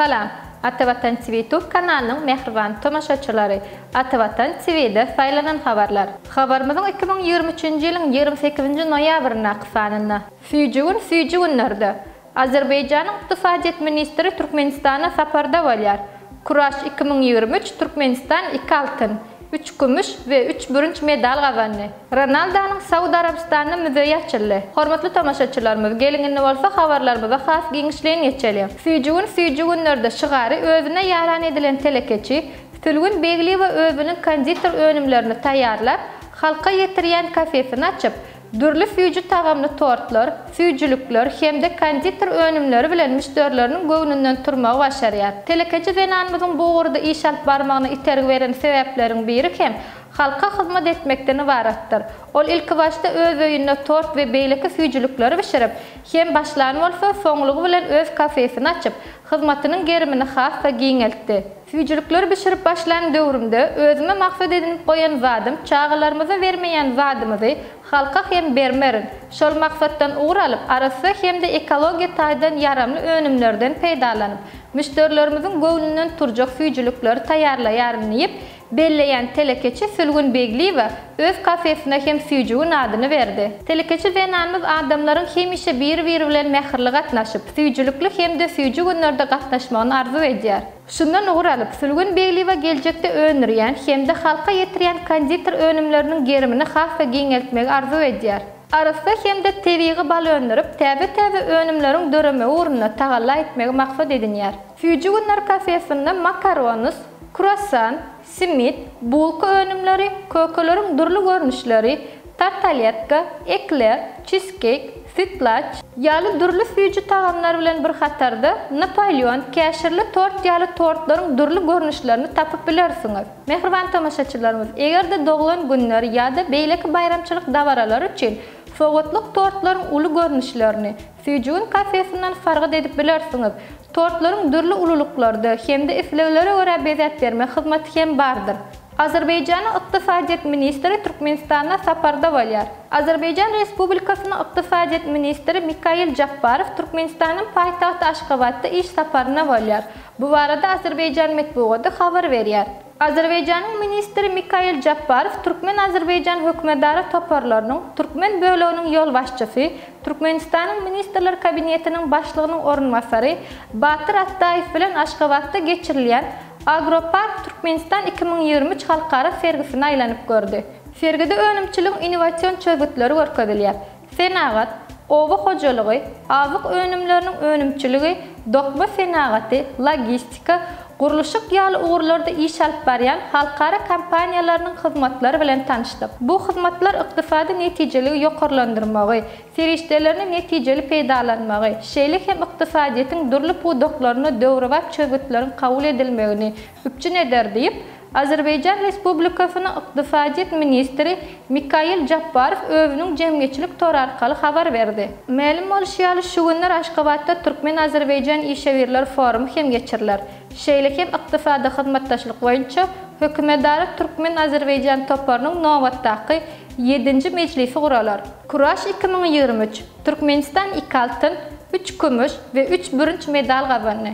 Salam! Ata Watan TV YouTube kanalynyň mähriban tomaşaçylary! Ata Watan TV-de saýlanan habarlar. Habarymyzyň iki müň ýigrimi üçünji ýylyň ýigrimi sekizinji noýabryndaky sanynda. Süýji gün süýji günlerde. Azerbaýjanyň ykdysadyýet ministri Türkmenistana saparda bolýar. Kuraş iki müň ýigrimi üç Türkmenistan iki altyn, üç kümüş we üç bürünç medal gazandy. Ronaldonyň Saud Arabystanyna müzeýi açyldy. Hormatly tomaşaçylarymyz, geliň indi bolsa habarlarymyza has giňişleýin geçeliň. Süýji gün süýji günlerde şygary özüne ýaran edilen telekeçi Sülgün Begliýewa özüniň konditer önümlerini taýýarlap, halka ýetirýän kafesini açyp, Dürli süýji tagamly tortlar, süýjülikler hem-de konditer önümleri bilen müşderileriniň göwnünden turmagy başarýar. Telekeçi zenanymyzyň bu ugurda iş alyp barmagyna itergi beren sebäpleriň biri hem halka hyzmat etmekden ybaratdyr. Ol ilkibaşda öz öýünde tort we beýleki süýjülikleri bişirip, hem başlan bolsa, soňlugy bilen öz kafesini açyp, hyzmatynyň gerimini has-da giňeltdi. Süýjülikleri bişirip başlan döwrümde özüme maksat edinip goýan zadym çagalarymyza bermeýän zadymyzy halka hem bermerin, şol maksatdan ugur alyp arassa hem-de ekologiýa taýdan ýaramly önümlerden peýdalanyp, müşderilerimiziň göwnünden turjak süýjülikleri taýýarlaýaryn diýip, belleýän telekeçi Sülgün Begliýewa Öz kafesine hem Süýjügin adyny berdi. Telekeçi zenanymyz adamlaryň hemişe biri-biri bilen mähirli gatnaşyp, süýjülikli hem-de süýji günlerde gatnaşmagyny arzuw edýär. Şundan ugur alyp, Sülgün Begliýewa geljekde öndürýän hem-de halka ýetirýän konditer önümleriniň gerimini has-da giňeltmegi arzuw edýär. Arassa hem-de tebigy bal öndürip, täze-täze önümleriň döremegi ugrunda tagalla etmegi maksat edinýär. Süýjüginler kafesinde makaronus, kruassan, Simit, bulka önümleri, kökeleriň dürli görnüşleri, tartalýetka, ekler, çizkeýk, sütlaç, ýaly dürli süýji tagamlar bilen bir hatarda Napoleon, käşirli tort ýaly tortlaryň dürli görnüşlerini tapyp bilersiňiz. Mähriban tomaşaçylarymyz, eger-de doglan günler ýa-da beýleki baýramçylyk dabaralary üçin sowgatlyk tortlaryň uly görnüşlerini, Sijun kafesinden sargyt edip bilersiňiz. Tortlaryň dürli ululyklarda hem-de isleglere görä bezäp berme hyzmaty hem bardyr. Azerbaýjanyň Ykdysadyýet ministri Türkmenistanda saparda bolýar. Azerbaýjan Respublikasynyň Ykdysadyýet ministri Mikail Japbarow Türkmenistanyň paýtagty Aşgabatda iş saparynda bolýar. Bu barada Azerbaýjan metbugaty habar berýär. Azerbaýjanyň ministri Mikail Japbarow türkmen-azerbaýjan hökümedara toparlarynyň türkmen böleginiň ýolbaşçysy, Türkmenistanyň Ministrler Kabinetiniň Başlygynyň orunbasary Batyr Atdaýew bilen Aşgabatda geçirilýän Agropark Türkmenistan iki müň ýigrimi üç halkara sergisini aýlanyp gördi. Sergide önümçiligiň innowasion çözgütleri görkezilýär. Senagat, oba hojalygy, azyk önümleriniň önümçiligi, dokma senagaty, logistika, gurluşyk ýaly ugurlarda iş alyp barýan halkara kompaniýalarynyň hyzmatlary bilen tanyşdyk. Bu hyzmatlar ykdysady netijeligi ýokarlandyrmagy, serişdelerini netijeli peýdalanmagy, şeýle hem ykdysadyýetiň dürli pudaklaryna döwrebap çözgütleriň kabul edilmegini üpjün eder diýip, Azerbaýjan Respublikasynyň ykdysadyýet ministri Mikail Japbarow özüniň jemgyýetçilik tory arkaly habar berdi. Mälim bolşy ýaly, şu günler Aşgabatda türkmen-azerbaýjan işewürler forumy hem geçiriler. Şeýle hem Ykdysady hyzmatdaşlyk boýunça hökümetara türkmen-azerbaýjan toparynyň nobatdaky, ýedinji mejlisi guralar. Kuraş iki müň ýigrimi üç, Türkmenistan iki altyn, üç kümüş we üç bürünç medal gazandy.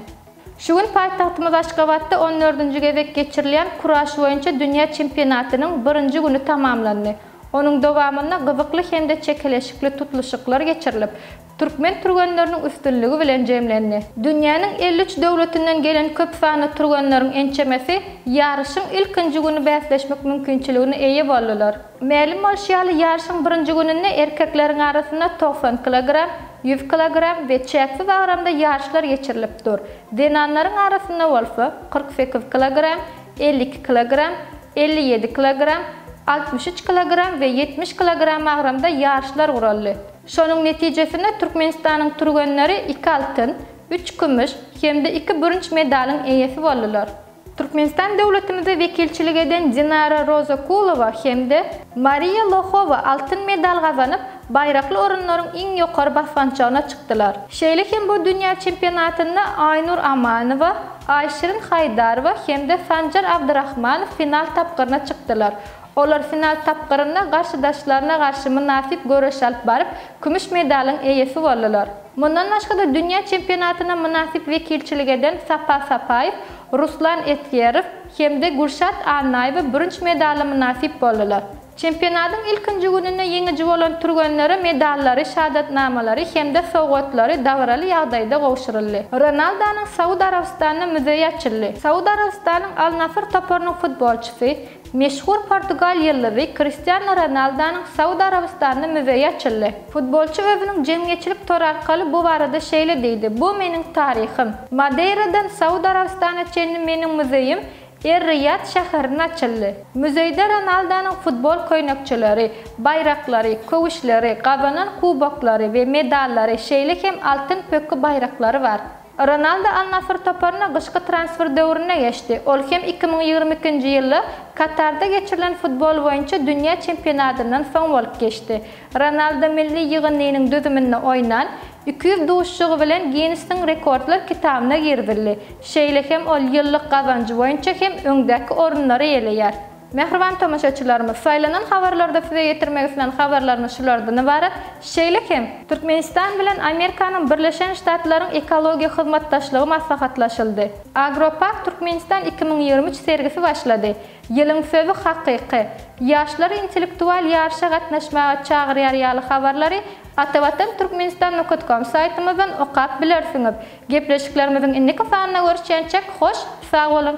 Şu gün paýtagtymyz Aşgabatda on dördünji gezek geçirilýän kuraş boýunça dünýä çempionatynyň birinji güni tamamlandy. Onuň dowamynda gyzykly hem-de çekeleşikli tutluşyklar geçirilip, türkmen türgenleriniň üstünligi bilen jemlendi. Dünýäniň elli üç döwletinden gelen köp sanly türgenleriň ençemesi ýaryşyň ilkinji güni bäsleşmek mümkinçiligine eýe boldular. Mälim bolşy ýaly, ýaryşyň birinji gününde erkekleriň arasynda togsan kilogram, Ýüz kilogram we çäksiz agramda ýaryşlar geçirilip dur. Zenanlaryň arasynda bolsa, kyrk sekiz kilogram, elli iki kilogram, elli ýedi kilogram, altmyş üç kilogram we ýetmiş kilogram agramda ýaryşlar guraldy. Şonuň netijesinde Türkmenistanyň türgenleri iki altyn, üç kümüş hem-de iki bürünç medalyň eýesi boldular. Türkmenistan döwletimize wekilçilik eden Dinara Rozakulowa hem-de Mariýa Lohowa altyn medal gazanyp, baýrakly orunlaryň iň ýokary basgançagyna çykdylar. Şeýle hem bu dünýä çempionatynda Aýnur Amanowa, Aýşirin Haýdarowa hem-de Sanjar Abdyrahmanow final tapgyryna çykdylar. Olar final tapgyrynda garşydaşlaryna garşy mynasyp göreş alyp baryp, kümüş medalyň eýesi boldular. Mundan başga-da dünýä çempionatyna mynasyp wekilçilik eden Sapa Sapaýew, Ruslan Esgerow hem-de Gülşat Annaýewa bürünç medala mynasyp boldular. Çempionatyň ilkinji gününde ýeňiji bolan türgenlere medallary, şahadatnamalary hem-de sowgatlary dabaraly ýagdaýda gowşuryldy. Ronaldonyň Saud Arabystanda müzeýi açyldy. Saud Arabystanyň Al-Nasr toparynyň futbolçysy, Meşhur portugal ýyldyzy Kristiano Ronaldonyň Saud Arabystanda müzeýi açyldy. Futbolçy özüniň jemgyýetçilik tory arkaly bu barada şeýle diýdi, Bu meniň taryhym. Madeýradan Saud Arabystana çenli meniň müzeýim Er-Riýad şäherinde açyldy. Müzeýde Ronaldonyň futbol köýnekçeleri, baýraklary, köwüşleri, gazanan kuboklary we medallary, şeýle hem altyn pökgi baýraklary bar. Ronaldo Al-Nasr toparyna gyşky transfer döwründe geçdi. Ol hem iki müň ýigrimi ikinji ýylda Katarda geçirilen futbol boýunça dünýä çempionatyndan soň bolup geçdi. Ronaldo milli ýygyndynyň düzüminde oýnan iki ýüz duşuşygy bilen Ginnesiň rekordlar kitabyna girizildi. Şeýle hem ol ýyllyk gazanjy boýunça hem öňdäki orunlary eýeleýär. Mähriban tomaşaçylarymyz, saýlanan habarlarda size ýetirmek islän habarlarymyz şulardan ybarat. Şeýle hem, Türkmenistan bilen Amerikanyň Birleşen Ştatlaryň ekologiýa hyzmatdaşlygy maslahatlaşyldy. Agropark Türkmenistan iki müň ýigrimi üç sergisi başlady. Ýylyň sözi hakyky. Ýaşlary intellektual ýaryşa gatnaşmaga çagyrýar ýaly habarlary Atavatan Turkmenistan nokatkom saýtymyzdan okap bilersiňiz. Gepleşiklerimiziň indiki sanyna görüşýänçäk hoş sag boluň!